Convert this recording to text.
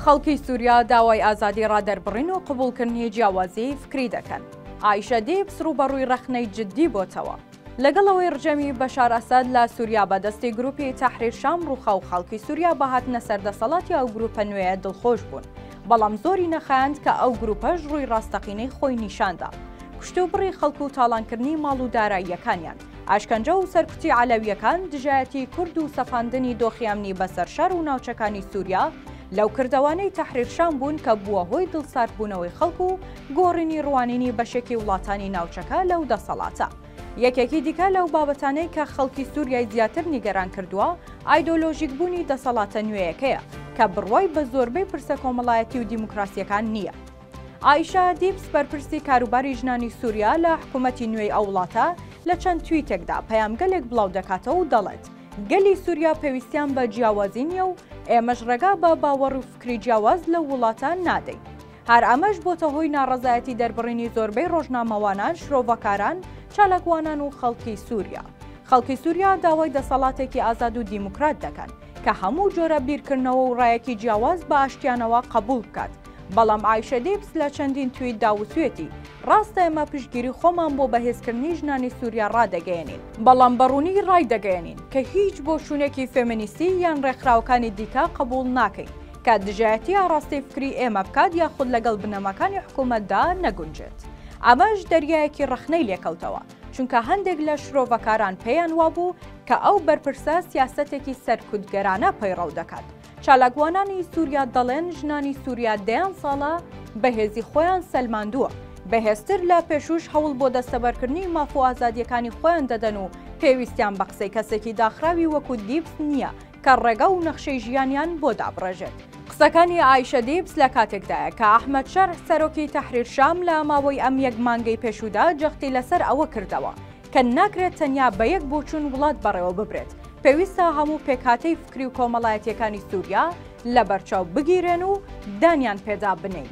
خەڵکی سوریا داوای ئازادی ڕادەربڕین و قبوڵکردنی جیاوازیی فکری دەکەن. ئایشە دیبس ڕووبەڕووی ڕەخنەی جددی بۆتەوە. لەگەڵ ئەوەی ڕژێمی بەشار ئەسەد لە سوریا بە دەستی گرووپی تەحریر شام ڕووخا و خەڵکی سوریا بە هاتنە سەر دەسەڵاتی ئەو گرووپە نوێیە دڵخۆش بوون، بەڵام زۆری نەخایاند کە ئەو گرووپەش ڕووی ڕاستەقینەی خۆی نیشان دا، کوشتوبڕی خەڵک و تاڵانکردنی ماڵ و داراییەکانیان. ئەشکەنجە و سەرکوتی عەلەوییەکان، دژایەتی کورد و سەپاندنی دۆخی ئەمنی بەسەر شار و ناوچەکانی سوریا، لەو کردەوانەی تەحریر شام بوون کە بووە هۆی دڵساردبوونەوەی خەڵک و گۆڕینی ڕوانینی بەشێکی وڵاتانی ناوچەکە لەو دەسەڵاتە. یەکێکی دیکە لەو بابەتانەی کە خەڵکی سوریای زیاتر نیگەران کردووە، ئایدۆلۆژیکبوونی دەسەڵاتە نوێیەکەیە کە بڕوای بە زۆربەی پرسە کۆمەڵایەتی و دیموکراسییەکان نییە. ئایشە دیبس بەرپرسی کاروباری ژنانی سووریا لە حکوومەتی نوێی ئەو وڵاتە لە چەند تویتێکدا پەیامگەلێک بڵاو دەکاتەوە و دەڵێت گەلی سووریا پێویستیان بە جیاوازی نییە و ئێمەش ڕێگا بە باوەڕ و فکری جیاواز لەو وڵاتە نادەین. هەر ئەمەش بۆتە هۆی ناڕەزایەتی دەربڕینی زۆربەی ڕۆژنامەوانان، شرۆڤەکاران، چالاکوانان و خەڵکی سووریا. خەڵکی سووریا داوای دەسەڵاتێکی ئازاد و دیموکرات دەکەن کە هەموو جۆرە بیرکردنەوە و ڕایەکی جیاواز بە ئاشتیانەوە قەبووڵ بکات، بەڵام ئایشە دیبس لە چەندین تویتدا وتویەتی، ڕاستە ئێمە پشتگیری خۆمان بۆ بەهێزکردنی ژنانی سوریا ڕادەگەیەنین، بەڵام بە ڕوونی ڕایدەگەیەنین کە هیچ بۆچوونێکی فێمینیستی یان ڕێکخراوەکانی دیکە قبوڵ ناکەین کە دژایەتی ئاڕاستەی فکری ئێمە بکات یاخود لەگەڵ بنەماکانی حکوومەتدا نەگونجێت. ئەمەش دەریایەکی ڕەخنەی لێکەوتەوە، چونکە هەندێک لە شرۆڤەکاران پێیان وابوو کە ئەو بەرپرسە سیاسەتێکی سەرکوتگەرانە پەیڕەو دەکات، چالاکوانانی سووریا دەڵێن ژنانی سووریا دەیان ساڵە بەهێزی خۆیان سەلماندووە بەهێزتر لە پێشوش هەوڵ بۆ دەستەبەرکردنی ماف و ئازادیەکانی خۆیان دەدەن و پێویستیان بە قسەی کەسێکی داخراوی وەکو دیبس نییە کە ڕێگە و نەخشەی ژیانیان بۆ دابڕێژێت. قسەکانی ئایشە دیبس لە کاتێکدایە کە ئەحمد شەرع سەرۆکی تەحریر شام لە ماوەی ئەم یەک مانگەی پێشوودا جەختی لەسەر ئەوە کردەوە کە ناکرێت تەنیا بە یەک بۆچوون وڵات بەڕێوە ببرێت، پێویستە هەموو پێکهاتەی فکری و کۆمەڵایەتییەکانی سووریا لەبەرچاو بگیرێن و دانیان پێدا بنێین.